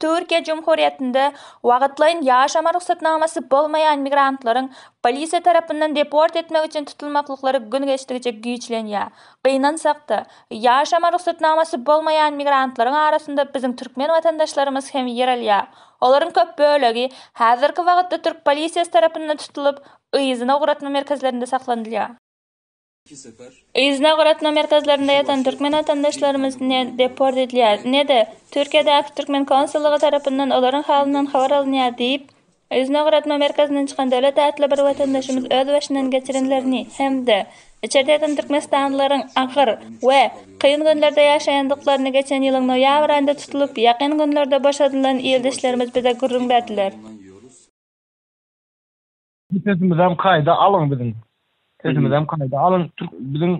Türkiýe Cumhuriyetinde wagtlaýyn ýaşama rugsatnamasy bolmaýan migrantlaryň polisiýa tarapyndan deport etmek üçin tutulmaklyklary gün geçdikçe güýçlenýär. Gynansak-da, ýaşama rugsatnamasy bolmaýan migrantlaryň arasynda biziň türkmen watandaşlarymyz hem ýer alýar. Olaryň köp bölegi häzirki wagtda türk polisiýasy tarapyndan tutulyp, yzyna ugratma merkezlerinde saklanylýar. Yzyna ugratma merkezlerinde ýatan türkmen watandaşlarymyz ne deport edilýär, ne-de Türkiýedäki türkmen konsullygy tarapyndan olaryň halyndan habar alynýar diýip, yzyna ugratma merkezinden çykan Döwlet atly bir watandaşymyz öz başyndan geçirenlerini hem-de içerde ýatan türkmenistanlylaryň agyr we kyn günlerde ýaşaýandyklaryny geçen ýylyň noýabr aýynda tutulyp, ýakyn günlerde boşadylan ildeşlerimiz bize gürrüň berdiler. Bu sesimizem kaýda alyň biziň. Sesimizem kaýda alyň. Türk biziň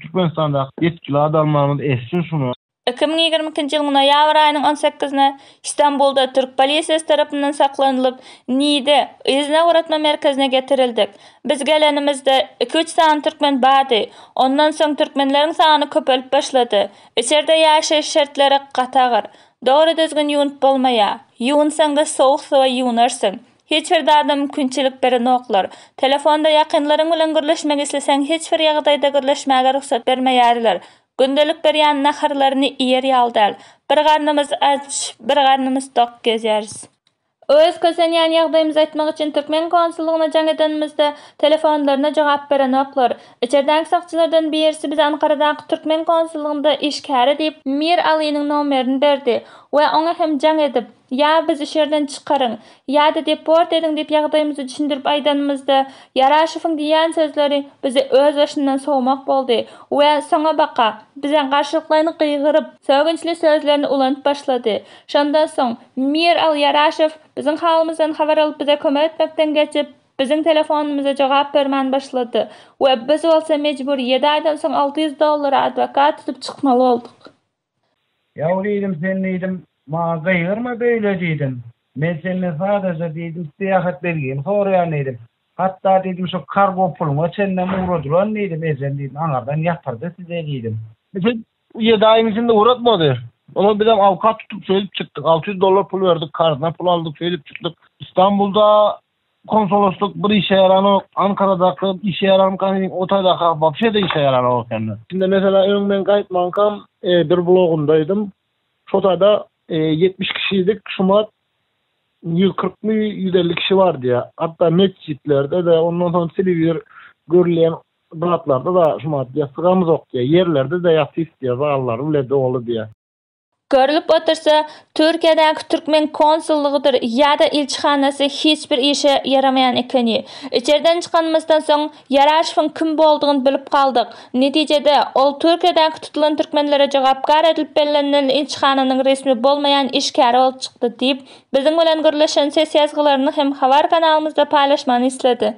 Türkmenistandaky ýetgili adamlarymyz eşitsin şuny. Iki müň ýigrimi ikinji ýylyň noýabr aýynyň on sekizine Stambulda türk polisiýasy tarapyndan saklanylyp, Niýde, yzyna ugratma merkezine getirildik. Biz gelenimizde, iki-üç sany türkmen bardy. Ondan soň türkmenleriň sany köpelip başlady. Içerde ýaşaýyş şertleri gaty agyr. Dogry-düzgün ýuwunyp bolmaýar. Ýuwunsaň-da sowuk suwa ýuwunarsyň. Hiç bir zada mümkinçilik berenoklar. Telefonda ýakynlaryň bilen gürleşmek isleseň hiç bir ýagdaýda gürleşmäge rugsat bermeýärler. Gündelik berýän naharlaryny iýer ýaly däl. Bir garnymyz aç, bir garnymyz tok gezýäris. Öz kösenýän ýagdaýymyzy aýtmak üçin türkmen konsullygyna jaň edenimizde telefonlaryna jogap berenoklar. Içerdäki sakçylardan birisi bize Ankaradaky türkmen konsullygynda işgäri diýip Mir Alynyň nomerini berdi we oňa hem jaň edip, Ýa bizi şerden çykaryň, ýa-da deport ediň diýip ýagdaýymyzy düşündirip aýdanymyzda, Ýaraşowyň diýýän sözleri bizi özbaşyndan sowmak boldy we soňabaka bize garşylyklaýyn gygyryp, sögünçli sözlerini ulanyp başlady. Şondan soň Mir Al Ýaraşow biziň halymyzdan habar alyp bize kömek etmekden geçip, biziň telefonymyza jogap bermän başlady we biz bolsa mejbur ýedi aýdan soň alty ýüz dollara adwokat tutup çykmaly bolduk. Ýaw diýdim, sen diýdim, maňa gygyrma beýle diýdim. Men senden sadaja diýdim, syýahat belgimi soraýan diýdim. Hatda diýdim, şu kargo puluňa çenlem ugradylan diýdim, ejem diýdim, aňyrdan ýatyrdy size diýdim. Eje ýedi aýyň içinde ugratmady. Onam bizem awkat tutup şeýdip çykdyk. Alty ýüz dollar pul berdik, karzyna pul aldyk, şeýdip çykdyk. Stambulda Konsoloslyk bir işe ýaranok, Ankaradaky işe ýaranka meň o taýdaky wapşe-de işe ýaranok ekeni. Şunda meselä öň men gaýtmankam bir blogumdaýdym. Şo taýda ýetmiş kişilik şumat ýüz kyrkmy ýüz elli kişi bar diýýär. Hatda metjitlerde-de, ondan soň telewizor görülýän zatlarda-da şumat ýassygam zok diýýär. Ýerlerde-de ýassy istiýär, zallar bile doly diýýär. Görlüp otursa, Türkiýedäki türkmen konsullygydyr ýa-da ilçihanasy hiç bir işe ýaramaýan ekeni. Içerden çykanymyzdan soň, Ýaraşowyň kim boldugyny bilip galdyk. Netijede, ol Türkiýedäki tutulan türkmenlere jogapkär edilip bellenilen ilçihananyň resmi bolmaýan işgäri bolup çykdy diýip, biziň bilen gürleşen ses ýazgylaryny hem habar kanalymyzda paýlaşmagyny isledi.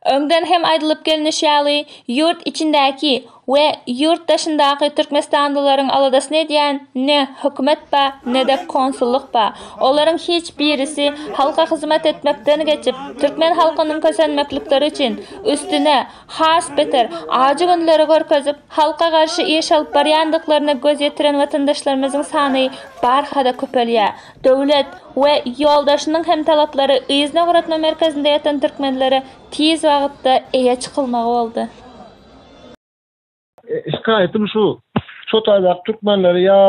Öňden hem aýdylyp gelnişi ýaly, ýurt içindäki we ýurt daşyndaky türkmenistanlylaryň aladasyny edýän ne hökümet bar, ne-de konsullyk bar. Olaryň hiç birisi halka hyzmat etmekden geçip, türkmen halkynyň kösenmeklikleri üçin, üstüne, has beter, ajy günleri görkezip, halka garşy iş alyp barýandyklaryna göz ýetiren watandaşlarymyzyň sany barha-da köpelýär. Döwlet we ýoldaşynyň hem talaplary yzyna ugratma merkezinde ýatan türkmenlere tiz wagtda eýe çykylmagy boldy. Şikaýatym şu, şo taýdaky türkmenleri ýa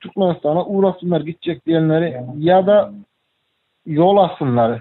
Türkmenistana ugratsynlar gitjek diýenleri ýa-da ýol atsynlar.